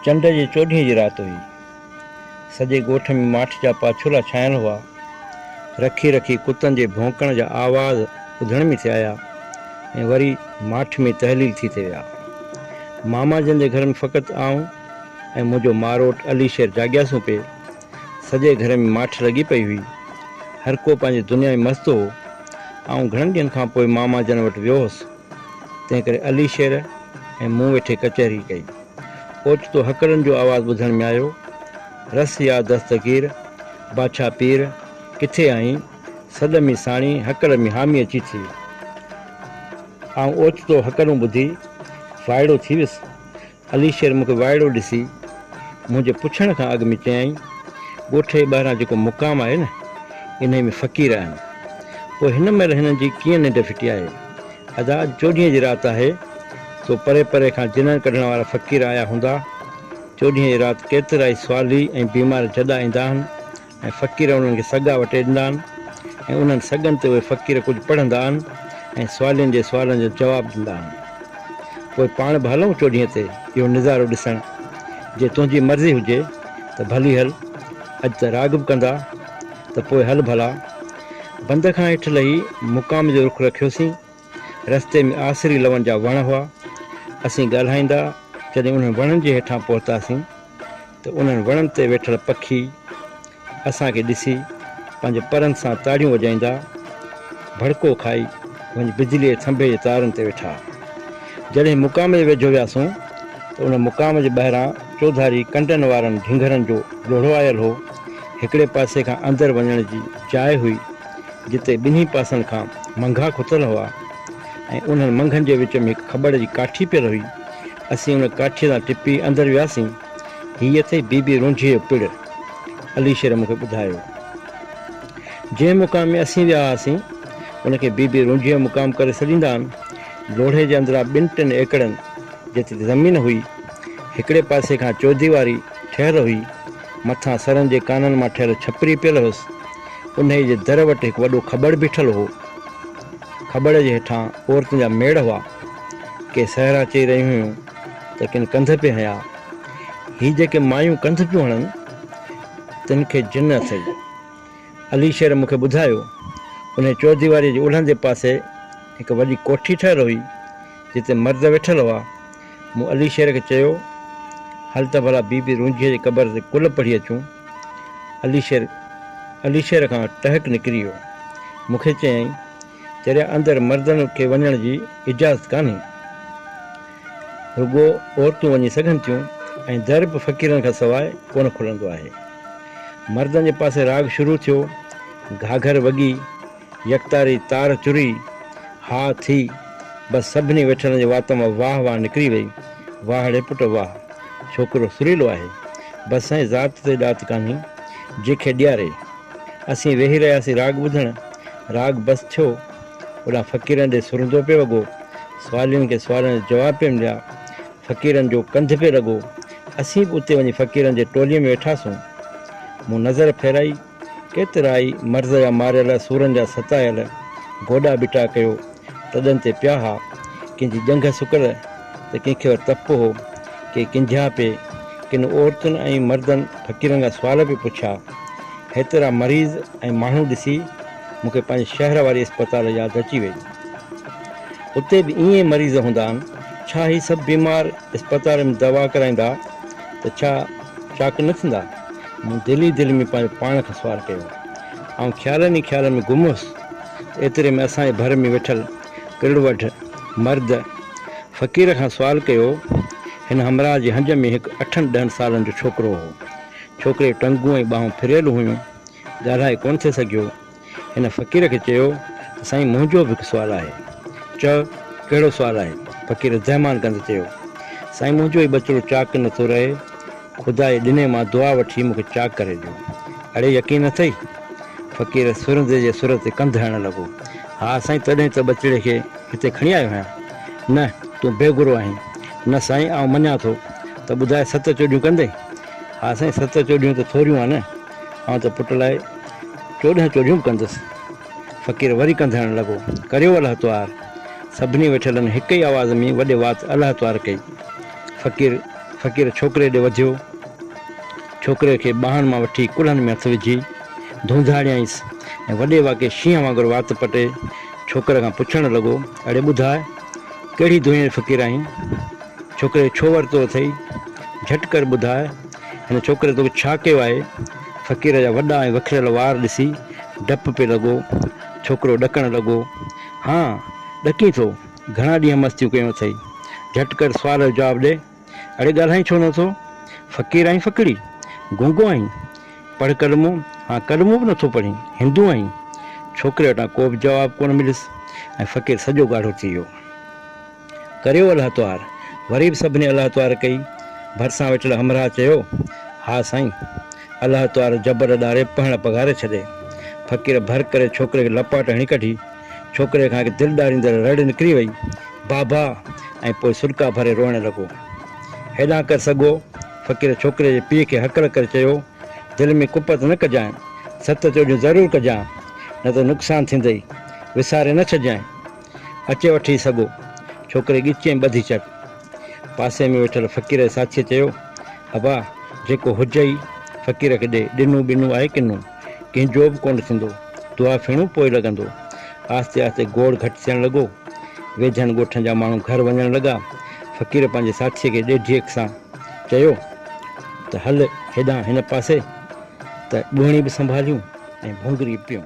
چنڊ جي چوڏهينء جي رات هئي. سڄي ڳوٺ ۾ ماٺ جا پاڇولا ڇانيل هئا. رکي رکي ڪتن جي ڀونڪڻ جا آواز ٻڌڻ ۾ ٿي آيا ۽ وري ماٺ ۾ تحليل ٿي ٿي ويا. ماما جن جي گهر ۾ فقط آئون، ۽ منهنجو ماروٽ علي شير جاڳيا سون پي. سڄي گهر ۾ ماٺ لڳي پئي هئي. هر ڪو پنهنجي دنيا ۾ مست هو. آئون گهڻن ڏينهن کان پوء ماما جن وٽ ويو هوس. تنهن ڪري علي شير ۽ مون ويٺي ڪچهري ڪئي. اوچتو هڪڙن جو آواز ٻڌڻ ۾ آيو، رس يا دستگير، باڇا پير، ڪٿي آهين؟ سڏ ۾ ساڻي هڪڙ ۾ حامي اچي ٿي. آئون اوچتو هڪڙون ٻڌي وائڙو ٿي ويس. علي شير مون کي وائڙو ڏسي منهنجي پڇڻ کان اڳ ۾ چيائين، ڳوٺ جي ٻاهران جيڪو مقام آهي نه، انهيء ۾ فقير آهن. پوء هن مهل هنن جي ڪيئن ننڊ ڦٽي آهي؟ ادا اڄ چوڏهينء جي رات آهي، سو پري پري کان جنڻ ڪڍڻ وارا فقير آيا هوندا. چوڏهينء جي رات ڪيترائي سوالي ۽ بيمار جڏا ايندا آهن. ۽ فقير انهن کي سڳا وٽي ڏندا آهن ۽ انهن سڳن تي اهي فقير ڪجهه پڙهندا آهن ۽ سوالين جي سوالن جو جواب ڏندا آهن. پوء پاڻ به هلون چوڏهينء تي اهو نظارو ڏسڻ، جي تنهنجي مرضي هجي ته ڀلي هل، اڄ ته راڳ به ڪندا ته پوء هل ڀلا. بند کان هيٺ لهي مقام جو رخ رکيوسين. رستي ۾ آسري لون جا وڻ هئا. اسين ڳالهائيندا جڏهن انهن وڻن جي هيٺان پهتاسين ته انهن وڻن تي ويٺل پکي اسان کي ڏسي پنهنجي پرن سان تاڙيون وڄائيندا ڀڙڪو کائي وڃي بجلي جي ٿنڀي جي تارن تي ويٺا. جڏهن مقام جي ويجهو وياسون ته ان مقام جي ٻاهران چوڌاري ڪنڊن وارن ڍنگهرن جو لوڙهو آيل هو. هڪڙي پاسي کان اندر وڃڻ جي جاء هئي. جتي ٻنهي پاسن کان منگها کتل هئا ۽ انهن منگهن جي وچ ۾ هڪ کٻڙ جي ڪاٺي پيل هئي. اسين ان ڪاٺيء تان ٽپي اندر وياسين. هيء اٿئي بيبي رونجهيء جو پڙ. عليشير مون کي ٻڌايو. جنهن مقام ۾ اسين ويا هئاسين، ان کي بيبي رونجهيء جو مقام ڪري سڏيندا آهن. لوڙهي جي اندران ٻن ٽن ايڪڙن جيتري زمين هئي. هڪڙي پاسي کان چوديواري ٺهيل هئي. مٿان سرن جي ڪانن مان ٺهيل ڇپري پيل هيس. انهيء جي در وٽ هڪ وڏو کٻڙ بيٺل هو. کٻڙ جي هيٺان عورتن جا ميڙ هئا. ڪي سهرا چئي رهيون هيون ته ڪن ڪنڌ پئي هنيا. هي جيڪي مايون ڪنڌ پيون هڻن، تن کي جن اٿئي. علي شير مون کي ٻڌايو، انهيء چوڌيواريء جي الهندي پاسي هڪ وڏي ڪوٺي ٺهيل هئي. جتي مرد ويٺل هئا. مون علي شير کي چيو، هل ته ڀلا بي بي رونجهيء جي قبر تي ڪل پڙهي اچون. علي شير علي شير کان ٽهڪ نڪري ويو. مون کي چيائين، چريا اندر مردن کي وڃڻ جي اجازت ڪانهي. رڳو عورتون وڃي سگهن ٿيون ۽ در به فقيرن کان سواء ڪونه کلندو آهي. مردن جي پاسي راڳ شروع ٿيو. گهاگهر وڳي. يڪتاري تار چري ها ٿي، بس سڀني ويٺلن جي وات مان واهه واهه نڪري وئي، واهڙي پٽ واهه، ڇوڪرو سريلو آهي، بس سائين ذات تي ڏات ڪانهي، جي کي ڏياري. اسين ويهي رهياسين راڳ ٻڌڻ، راڳ بس ٿيو، اوڏانهن فقيرن ڏي سرندو پئي وڳو، سوالين کي سوالن جا جواب پئي مليا، فقيرن جو ڪنڌ پئي لڳو، اسين به اتي وڃي فقيرن جي ٽولي ۾ ويٺاسون، مون نظر ڦيرائي، ڪيترائي مرض جا ماريل، سورن جا ستايل، گوڏا ٻٽا ڪيو، تڏن تي پيا ها، ڪنهن جي ڄنگهه سڪل ته ڪنهن کي تپ هو، ڪي ڪنجها پي، ڪن عورتن ۽ مردن فقيرن کان سوال پي پڇيا. هيترا مريض ۽ ماڻهو ڏسي مون کي پنهنجي شهر واري اسپتال ياد اچي وئي. اتي به ائين ئي مريض هوندا آهن. ڇا هي سڀ بيمار اسپتال ۾ دوا ڪرائيندا ته ڇا چاڪ نه ٿيندا؟ مون دل ئي دل ۾ پنهنجو پاڻ کان سوال ڪيو. آئون خيالن ئي خيالن ۾ گم هوس. ايتري ۾ اسان جي ڀر ۾ ويٺل ڪرڙ وڍ مرد فقير کان سوال ڪيو. هن همراهه جي هنج ۾ هڪ اٺن ڏهن سالن جو ڇوڪرو هو. ڇوڪري جون ٽنگون ۽ ٻانهون ڦريل هيون. ڳالهائي ڪونه ٿي سگهيو. هن فقير کي چيو ته سائين منهنجو به هڪ سوال آهي. چؤ ڪهڙو سوال آهي؟ فقير زهمان ڪندي چيو، سائين منهنجو هي ٻچڙو چاڪ نه ٿو رهي، خدا جي ڏني مان دعا وٺي مون کي چاڪ ڪري ڏيو. اڙي يقين نه اٿئي؟ فقير سرندي جي سر تي ڪنڌ هڻڻ لڳو، ها سائين تڏهن ته ٻچڙي کي هتي کڻي آيو آهيان. نه تون بيگرو آهين. نه سائين آئون مڃان ٿو. ته ٻڌاء ست چوڏيون ڪندين؟ ها سائين ست چوڏيون ته ٿوريون آهن. آئون ته پٽ لاء چوڏهن چوڏهيون به ڪندس. فقير وري ڪنڌڻ لڳو، ڪريو الله توهار! سڀني ويٺلن هڪ ئي آواز ۾ وڏي وات الله توهار ڪئي. فقير فقير ڇوڪري ڏي وڌيو. ڇوڪري کي ٻانهن مان وٺي ڪلهن ۾ هٿ وجهي ڌونڌاڙيائينس ۽ وڏي واڪي شينهن وانگر وات پٽي ڇوڪري کان پڇڻ لڳو، اڙي ٻڌاء، ڪهڙي دنيا جو فقير آهين؟ ڇوڪري کي ڇو ورتو اٿئي؟ جهٽ ڪر ٻڌاء، هن ڇوڪري توکي ڇا ڪيو آهي؟ فقير جا وڏا ۽ وکريل وار ڏسي ڊپ پئي لڳو. ڇوڪرو ڏڪڻ لڳو. ها، ڏڪين ٿو. گهڻا ڏينهن مستيون ڪيون اٿئي. جهٽ ڪر سوال جو جواب ڏي. اڙي ڳالهائين ڇو نه ٿو؟ فقير آهين ڦڪڙي؟ گونگو آهين؟ پڙهه ڪلمو. ها، ڪلمو به نه ٿو پڙهين. هندو آهين؟ ڇوڪري وٽان ڪو به جواب ڪونه مليس ۽ فقير سڄو ڳاڙهو ٿي ويو. ڪريو الله توهار. وري به سڀني الله توهار ڪئي. ڀرسان ويٺل همراهه چيو، ها سائين! الله توهار جبر اڏاري پهڻ پگهاري ڇڏي. فقير ڀر ڪري ڇوڪري کي لپاٽ هڻي ڪڍي. ڇوڪري کان هڪ دل ڏاريندڙ رڙ نڪري وئي، بابا! ۽ پوء سرڪا ڀري روئڻ لڳو. هيڏانهن ڪر سگهو! فقير ڇوڪري جي پيء کي هڪل ڪري چيو، دل ۾ ڪپت نه ڪجانء. ست چوڏيون ضرور ڪجانء. نه ته نقصان ٿيندئي. وساري نه ڇڏجانء. اچي وٺي سگهو. ڇوڪري ڳچي ۽ ٻڌي چڪ. پاسي ۾ ويٺل فقير جي ساٿيء چيو، ابا، جيڪو هجئي، فقير کي ڏي. ڏنو ٻنو آهي ڪنو. ڪنهن جو به ڪونه ٿيندو. دعا ڦيڻو پوء لڳندو. آهستي آهستي گوڙ گهٽ ٿيڻ لڳو. ويجهن ڳوٺن جا ماڻهو گهر وڃڻ لڳا. فقير پنهنجي ساٿيء کي ڏيڍيڪ سان چيو ته هل هيڏانهن هن پاسي ته ٻوهڻي به سنڀاليون ۽ ڀونگري به پيئون.